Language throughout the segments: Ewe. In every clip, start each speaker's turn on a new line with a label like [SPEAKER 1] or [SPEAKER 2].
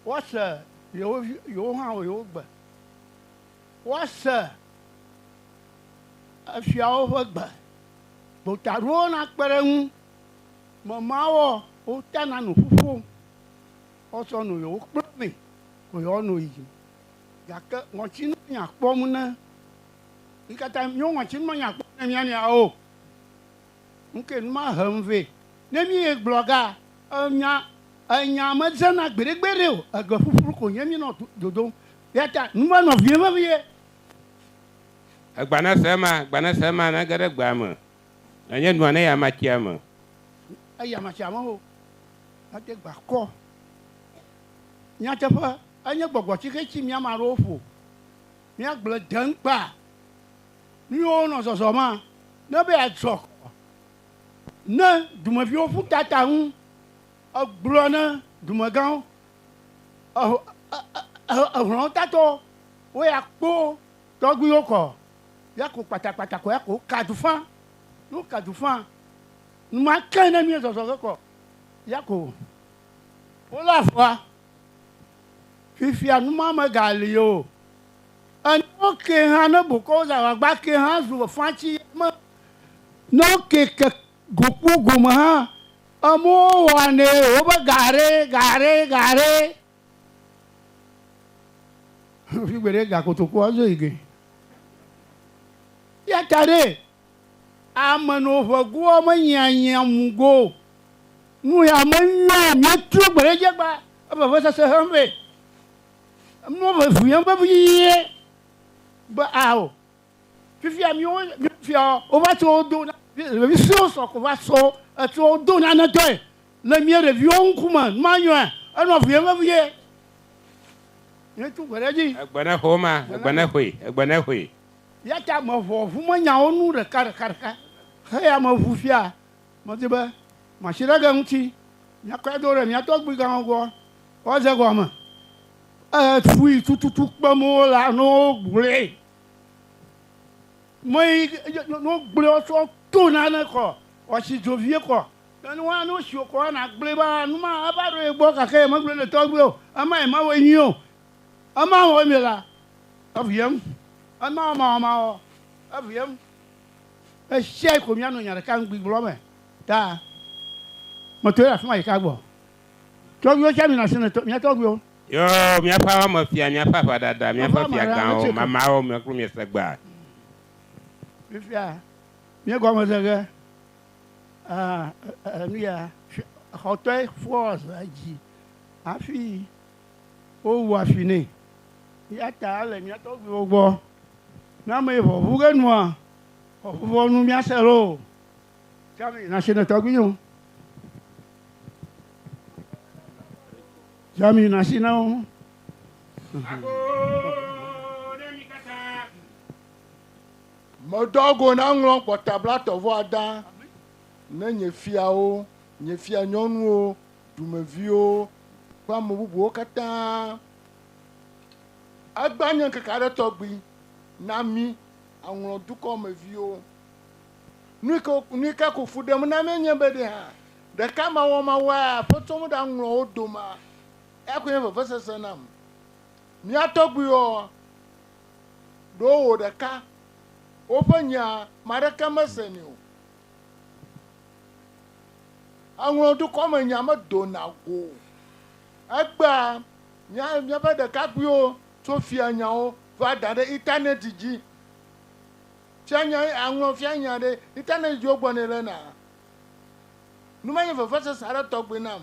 [SPEAKER 1] Woase yewo vi, yewo hã wɔ yewo gbe. Woase efiawo ƒe gbe. Gbotaɖowo nakpe ɖe eŋu. Memawoa, wotana nu ƒuƒom. Woatsɔ nu yewo kpla mee ko yewoanɔ yiyim. Gake ŋɔtinu menya kpɔm ne, mi katã, míwo ŋɔtinu menya kpɔm ne mía nɔeawo o. Ŋkee nu ma hem vɛ. Ne míeyi gblɔga, enya, enya medzena gbeɖegbeɖe o, egbe ƒuƒlu ko nye míenɔ dodom. Eya ta nu ma nɔ vim vevie.
[SPEAKER 2] Egbanese ema, gbanese ema nage ɖe gbea me, nenye nua ne ya matsia me. Eya
[SPEAKER 1] matsia me o. Mede gba kɔ. Nyateƒe, enye gbɔgbɔ tsixe tsi mía ame aɖewo ƒo. Míagblɔe deŋkpa. Nuyiwo wonɔ zɔzɔ ma ne be yeatrɔ kɔ ne dumeviwo ƒu ta ta ŋu. Egblɔ ne dumegãwo, ehlɔ̃wotatɔwo, wo ya kpo tɔgbuiwo kɔ ya ko kpatakpata kɔ ya ko ka dufã. Ne woka dufã, numa ke ne mí zɔzɔ ge kɔ ya ko wolé afɔa. Fifia numa megali o. Enɔ ke hã ne bokɔwo za wagba ke hã zu fatsi me nɔ ke ke gokpo gome hã emuwo wɔanɛ wobe gaɖe gaɖe gaɖe. Figbeɖe ga kotokua zo yi ge. Yata ɖe Ame no ʋegoa me nyianyia mu go o. Nu ya me nua mia tro gbe ɖe dje gba e veve sese hem vɛ. Emɔ vevi yem vevi yie be a o. Fifia mi wo fia wo va tso wo do na ɖevi sue wo sɔ ko va so etso wo do na ne tɔe le mia ɖevi wo ŋku me nua nyoa e nɔ vi yem vevi yie. Mia tro gbe ɖe dji. Egbe ne xo ma,
[SPEAKER 2] egbe ne xoe, egbe ne xoe. Eya ta meʋɔ
[SPEAKER 1] ʋumenyawo nu ɖekaɖekaɖeka. Heya meʋu fia, medi be matsi ɖe ge ŋuti, miakɔe do ɖe mia tɔgbuigãwo gbɔ woadze egɔme. Eƒui tututu kpem wole ne wogblɔe. Meyi ne wogblɔe wotsɔ to nane kɔ, wòatsi dzo vie kɔ. Ke ne woa, ne wotsi wokɔ, woana gblɔe be, a, nu ma eva ɖo ye gbɔ gake yemegblɔe ne tɔgbuiwò o. Ema yemawɔe nyuie o. Ema wɔ eme la, eʋui eŋu. Ema wɔ ema wɔ ema wɔ, eʋui eŋu. Ɣesiaɣi ko míanɔ nya ɖeka ŋugbi gblɔm me ta. Metoe le afi ma ɖeka gbɔ. Tɔgbuiwo tsɛ mina asi na tɔ, mía tɔgbuiwo. Yo, míaƒe
[SPEAKER 2] aʋamefia, míaƒe aʋadada, míaƒe fiagãwo, mamaawo me kplu miese gbea?
[SPEAKER 1] Fifia míegɔme ze ge, aa, e, e, e, nuya, xɔtɔe fɔs edzi hafi. wowua fi nɛ. Eya ta ele mía tɔgbuiwo gbɔ. Ne ame yi ʋɔʋu ge nua, ʋɔʋuvɔ nu míase loo. Tsã mi nasi ne tɔgbuiwo. Tsã mi nasi na wo.
[SPEAKER 3] Medɔ go naŋlɔ gbɔta blatɔ̃-vɔ-ada ne nye fiawo, nye fianyɔnuwo dumeviwo kple ame bubuwo katã. Egbea nye ŋkeke aɖe tɔgbi na mí aŋlɔ dukɔ me viwo. Nuyike ko fu ɖem na mí nye be ɖe hã ɖeka mawɔ mawɔe aƒetsɔ mí ɖaŋlɔ wo domea, eya koe nye vevesese nam. Mía tɔgbuiwoa, ɖo wò ɖeka woƒe nya ame aɖeke mesenɛ o. Eŋlɔ dukɔmenya medona go o. Egbea mía míaƒe ɖekakpuiwo tso fianyawo va da ɖe Internet dzi. Fianya aŋlɔ fianya ɖe Internet dzi wogblɔ nɛ le na. Nu ma nye vevesese aɖe tɔgbi nam.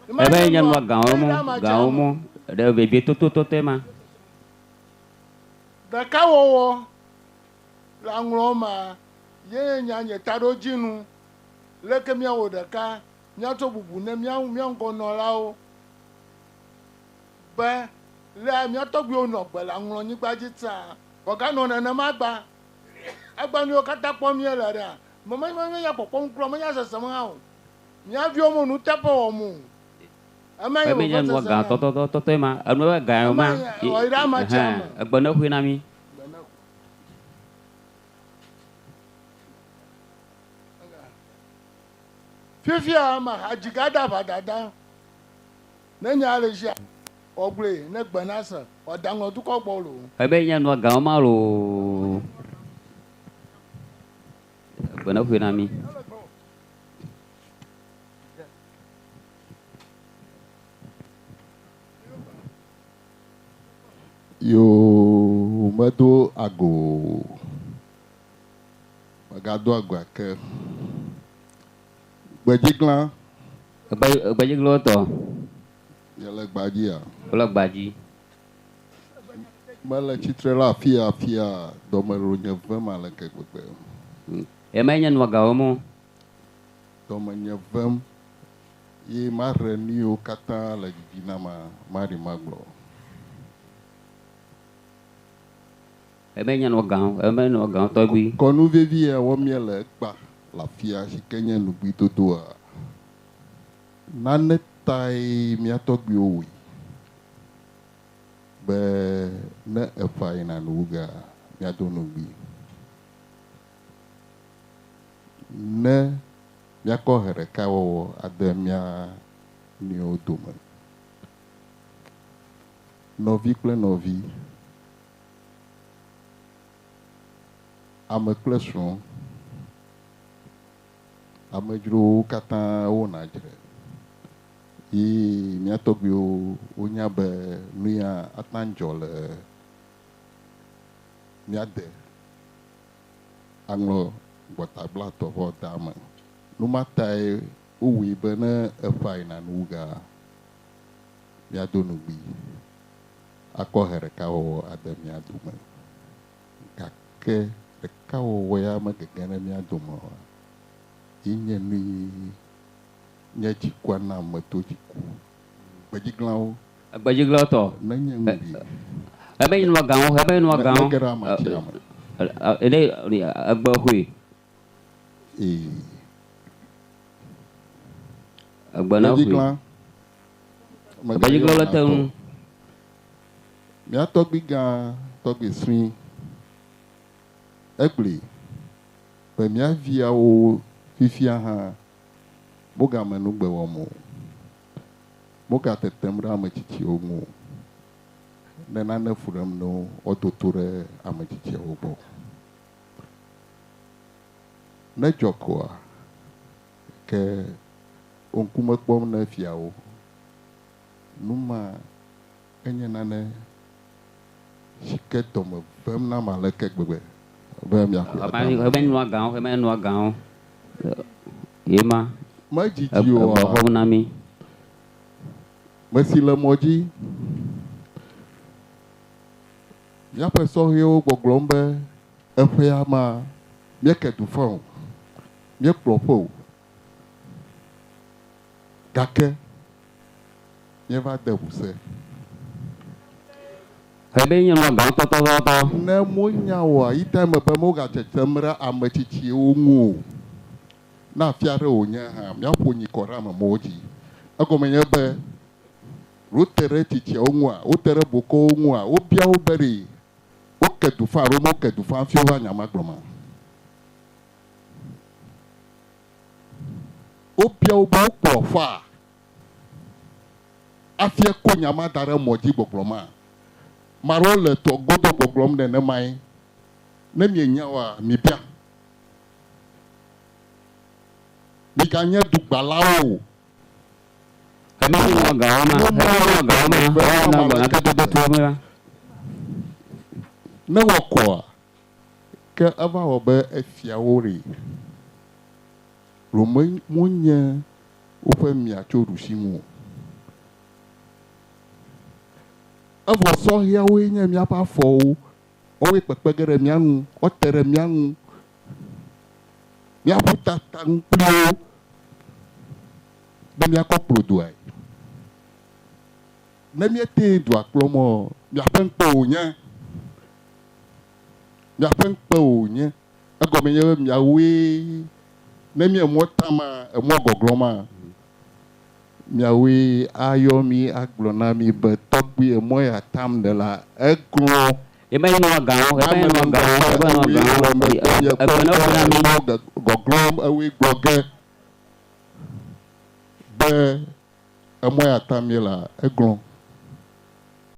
[SPEAKER 4] Emae nye nua gãwo mɔ ɖe vevietotototɔe ma.
[SPEAKER 3] Ɖekawɔwɔ le aŋlɔwo mea, yee nya nye taɖodzinu. Leke míawɔ ɖeka míatsɔ bubu ne mía mía ŋgɔnɔlawo be lea mía tɔgbuiwo nɔ gbe le aŋlɔnyigba dzi tsã? Wòaganɔ nenema gbã. Egbea nuyiwo katã kpɔm míele ɖea, menya menya kpɔkpɔm kura o, menya sesem hã o. Mía viwo me nuteƒe wɔm o. Eme nye
[SPEAKER 4] Eme nye nua gã tɔtɔtɔtɔe ma. Enu ebe gã ye ma. Ema ye, ewɔ yi ɖe ame sia Ɛhɛn, ame. egbe nexoe na mí.
[SPEAKER 3] fifia ame hadzi gada ʋa dada ne nya le zia ɔgblɔe ne gbe na se ɔdaŋɔ dukɔ gbɔ lo ebe nya nua gaŋɔ
[SPEAKER 4] ma lo gbe ne ƒoe na mi
[SPEAKER 5] Yoo, medo ago o. Megado ago ake. Gbedziglã. Gbe,
[SPEAKER 4] gbedziglɔ̃ tɔ. Yele
[SPEAKER 5] gbaa dzia? Wole gbaa dzi. Mele tsitre ɖe afia afia, dɔme ɖo nye vem ale ke gbegbe. Yemae
[SPEAKER 4] nye nua gawo mɔ.
[SPEAKER 5] dɔmenye vem, ye mahe nuyiwo katã le didi na ma maɖi magblɔ.
[SPEAKER 4] Eme nye nɔ gã, eme nye nɔ gã tɔgbi. Kɔnu vevi ya wɔm
[SPEAKER 5] míele ekpa le afia si ke nye nugbidodoa. Nane tae mía tɔgbiwo wui be ne efa yina nuwuga, míado nugbi. Ne míakɔ ʋe ɖeka wɔwɔ ade mía nɔewo dome, nɔvi kple nɔvi, ame kple srɔ̃, amedzrowo katã wona dzre, yi mía tɔgbuiwo wonya be nuya ate ŋu adzɔ le mía de. aŋlɔ gbɔtagbla tɔʋɔ da eme. Nu ma tae wowui be ne eƒãe na nuwugaa, míado nugbi akɔ he ɖeka wɔwɔ ade mía dome. Gake ɖeka wɔwɔ ya megege ɖe mía dome oa? Yi nye nui nye tsikua nam meto tsi ku. Gbedziglãwo
[SPEAKER 4] Egbedziglɔtɔ. Menye
[SPEAKER 5] ŋuɖi. Ebe yi
[SPEAKER 4] nua gãwo, ebe yi nua gãwo.
[SPEAKER 5] Mege ɖe amatia
[SPEAKER 4] me. Ɖe egbe xoe. Ee. Egbe na xoe. Egbedziglã. Egbedziglɔ le te ŋu.
[SPEAKER 5] Mía tɔgbui gã, tɔgbui sui. Egblɔe be mía viawo fifia hã wogamenugbe wɔm o. Mogatetem ɖe ame tsitsiwo ŋu o, ne nane fu ɖem no woado to ɖe ame tsitsiawo gbɔ o. Ne dzɔ koa, ke wo ŋkume kpɔm ne fiawo. Nu ma Enye nane si ke dɔme vem nam aleke gbegbe be miaƒle Ame aɖe ame. menua gã o,
[SPEAKER 4] ame menua gã o, ye ma, Medzidzi e, oa?
[SPEAKER 5] egbɔxɔm na mí.
[SPEAKER 4] Mesi
[SPEAKER 5] le mɔ dzi. Míaƒe sɔhɛwo gbɔgblɔm be, Eƒea ma, míeke du faa o, míekplɔ ƒe o. Gake míeva de ŋusẽ.
[SPEAKER 4] Eɖee nye nua gãtɔ tɔtɔtɔ. Ne monya
[SPEAKER 5] oa, yi ta eme be mogatsetsem ɖe ame tsitsiwo ŋu o. Ne afi aɖe wònye hã, míaƒo nyi kɔ ɖe ame mawo dzi. Egɔme nye be, wote ɖe tsitsiawo ŋua? Wote ɖe bokɔwo ŋua? Wobia wo be, Ɖe woke du faa alo meke du faa hafi wova nya ma gblɔma? Wobia wo be wokplɔ afaa hafi akɔ nya ma da ɖe mɔ dzi gbɔgblɔma? Ame aɖewo le tɔ godo gbɔgblɔm nenemae. Ne mienya oa, mibia. Miganye dugbalawo o.
[SPEAKER 4] Ame siwo wɔa gawo ma, ame siwo wɔa gawo ma, eye wonɔa agbe nyateƒe me la.
[SPEAKER 5] Ne woakɔa? Ke eva wɔ be efia wo ri. Rome wonye woƒe mia tso ɖusinu o. Evɔ sɔhɛawoe nye míaƒe afɔwo. Woawoe kpekpe ge ɖe mía ŋu. Wote ɖe mía ŋu. Míaƒu ta taŋ kpli wo be míakɔ kplodoae. Ne míetee dua kplɔm ɔ, miaƒe ŋkpe wònye. Miaƒe ŋkpe wònye. Egɔme nye be miawoe, ne mí emɔ tam a, emɔ gɔglɔm a, miawoe ayɔ mí agblɔ na mí be, Tɔgbui, emɔ ya tam nèlea, eglɔ̃. Yemee nɔa ga
[SPEAKER 4] o, yemee nɔa ga o, yemee nɔa ga o,
[SPEAKER 5] ekpɔe ne wogblɔ na mí. Gɔglɔm, ewoe gblɔ ge. Be emɔe atam míelea, eglɔ̃.